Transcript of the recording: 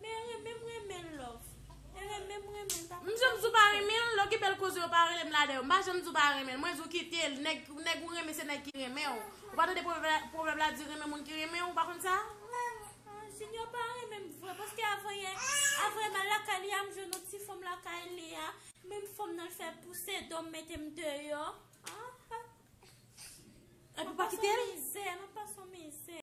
Men renmen m renmen l love. Men renmen m renmen l pa konn sa. M janm di w pa renmen l, lè w gen bèl koze yo pa rele m lade yo. M pa janm di w pa renmen l. Mwen di w kite l. Nèg ou renmen se nèg ki renmen w. Ou pa tande pwovèb la di renmen moun ki renmen w, ou pa konn sa? Junior pa renmen m vre paske avan yè, avan m al lakay li a m jwenn yon ti fanm lakay li a. Menm fanm nan l fè pouse do m mete m deyò. Epi w pa kite l? Mwen pa son mizè.